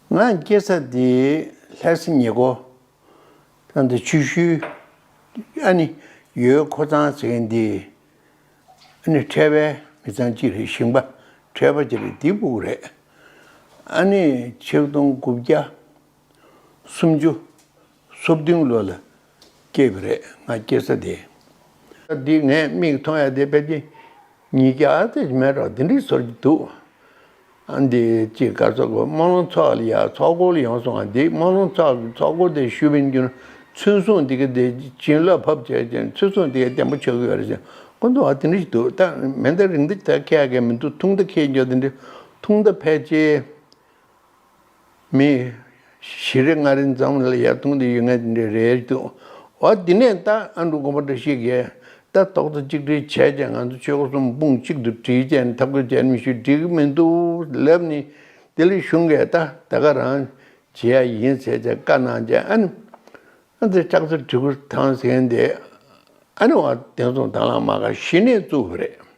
ང་སྐྱེས་ས་དེ་ལྷས་སེ་ཉེ་སྒོ། ཚང་དེ་ཆུ་ཤུལ། ཨ་ནི་ཡོས་ཁོ་ཚང་ཟེར་མཁན་དེ། ཨ་ནི་ཁྲལ་བའི་མི་ཚང་གཅིག་རེད་ཞིང་པ་ཁྲལ་བ་གཅིག་རེད་དེ་པོ་རེད། ཨ་ནི་ཆིག་སྟོང་དགུ་བརྒྱ། སུམ་ཅུ། སོ་བདུན་ལོ་ལ་སྐྱེས་པ་རེད་ང་སྐྱེ་ས་དེ། འདི་ངས་མིག་མཐོང་ཡ་དེ་དཔེ་ཀྱི་ཉིས་བརྒྱ་ཨ་ཙི་མེད་རོགས་དེ་འདྲི་ཟོར་གྱི་འདུག་ཨ་འདི་ཅི་ག་ཚོགས་གོ་དམངས་ལོང་ཚོགས་ལ་ཡ་ཚོགས་སྐོར་ཡོང་སོང་ཨ་འདི་དམངས་ལོང་ཚོགས་གི་ཚོགས་སྐོར་དེ་ཞུ་བའི་རྒྱུ་ཚུན་བཟུང་དེ་གི་དེ་བྱིན་རླབས་ཕབ་བྱས་ཀྱི་ཚུན་བཟུང་དེ་གི་བསྟན་པ་ཆོས་གི་ཡོད་རེད་ཟེར་ཀོ་འདུག་ཨ་དེ་འདྲི་འདུག་ད་མེ་མདའ་རིང་མདའ་ད་ཁས་གི་མི་འདུག་ཐུང་མདའ་ཁས་རྒྱུ་དེ་འདྲི་ཐུང་མདའ་ཕལ་ཆེར། མི། བཞི་རེ་ལྔ་རེ་འཛོམས་ལ་ཡར་ཐོན་དུ་ཡོད་ངེས་ཅི་འདྲའི་རེད་འདུག་བ། དེ་ནས་ད་ཨ་འབྲུག་དགོན་པ་འདྲ་ཞིག་གིས་ལྟ་རྟོག་ཚོ་གཅིག་སྒྲིལ་བྱས་རྗེས་ང་ཚོ་ཆོལ་ཁ་གསུམ་དཔུང་གཅིག་ཏུ་སྒྲིལ་རྗེས་འཐབ་རྒོལ་བྱས་ནས་མི་ཤུགས་སྒྲིལ་གི་མི་འདུག་ལབ་ནི། དེ་ལས་གཞུང་གིས་ད་ད་ག་རང་བྱེད་ཡ་ཡིན་ཟེར་ཚེ་བཀའ་གནང་རྗེས་ཨ་ནི། ཨ་ཙི་ལྕགས་ཚོ་གྲི་གུར་ཐང་ཟེར་འདི་ཨ་ནི་བ་དེ་ཚོ་དང་ལ་མ་ག་བཞི་ནས་བཙུགས་རེད།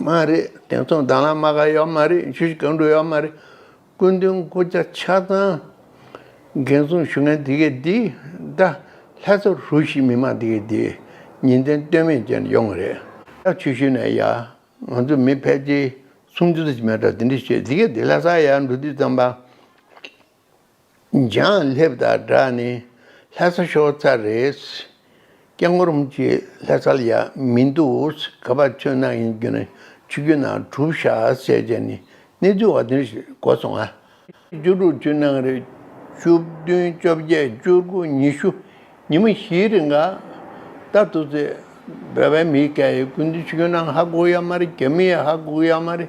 མ་རེད་དེང་སང་རྡ་ལ་མ་ག་ཡོད་མ་རེད་ཆུ་སྐྱོན་འགྲོ་ཡོད་མ་རེད་སྐུ་མདུན་སྐུ་ཆ་ཆ་ཚང་འགན་བཟུང་ཞུ་མཁན་དེ་གས་དེ་རྡ་ལྷ་སོ་ཧྲུའུ་ཞི་མི་མང་དེ་གས་དེ་ཉིན་མཚན་ལྟོས་མེད་ཅན་ཡོང་གི་རེད་ད་ཆུ་ཤུལ་ནས་ཡ་ང་ཚོ་མི་ཕལ་ཆེ་སུམ་ཅུ་རེ་མེད་དྲ་དེ་འདྲི་བྱེད་དེ་གས་དེ་ལྷ་ས་ཡ་འགྲོ་དུས་ཙམ་པ། འཇང་ལྷེབ་དང་སྦྲགས་ནས་ལྷ་ས་ཤོག་རྩ་རེད། སྐྱག་ངོ་རུམ་གྱི་ལྷ་སར་ཡ་མི་འདུག་ག་པར་ཆུ་ནག་ཡིན་རྒྱུ་ན་ཆུ་རྒྱུན་ནང་གྲུབ་ཤ་ཟས་བྱས་ནས་གནས་ཚུལ་བ་དོན་ཞིག་གོ་སོང་ང། བཅུ་དྲུག་བཅུ་ནང་རེད་བཅུ་བདུན་བཅོ་བརྒྱད་བཅུ་དགུ་ཉི་ཤུ་ཉི་མ་བཞིའི་རིང་ག་ད་ཐུག་ཚེ་བོད་པའི་མི་སྐད་ཡིག་ཀུན་ཏུ་ཆུ་རྒྱུན་ནང་ཧ་གོ་ཡ་མ་རེད་རྒྱ་མི་ཡ་ཧ་གོ་ཡ་མ་རེད་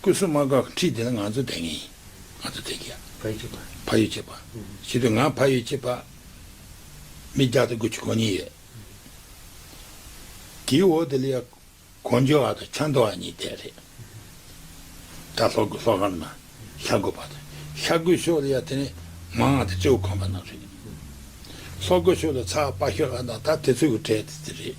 སྐུ་གསུམ་མ་བཀག་ཁྲིད་བདེ་ལ་ང་ཚོ་བདེ་ངེས་ཡིན། ང་ཚོ་བདེ་གི། ཕ་ཡུལ་གཅེས་པ། ཕ་ཡུལ་གཅེས་པ། བྱེད་དུས་ང་ཕ་ཡུལ་གཅེས་པ། མི་བརྒྱ་དང་དགུ་བཅུ་གོ་གཉིས་ཡོད། དེའི་འོག་ཏུ་ལི་ཡ། གོ་འཇོ་བ་དང་ཆ་མདོ་བ་གཉིས་བསྡད་རེད། དགྲ་ལྷོ་དགུ་ལྷོ་ཁར་ན། ཤ་རྒོད་བ་དང། ཤ་རྒོད་ཤོག་ལི་ཡ་དེ་ནི། མ་ང་དང་ཅའུ་ཁང་བ་རྣམས་རེད། ལྷོ་རྒོད་ཤོག་ལི་ཚ་དཔའ་ཤོག་ལ་ན་ད་དེ་ཚོ་གི་གྲས་དེ་རེད།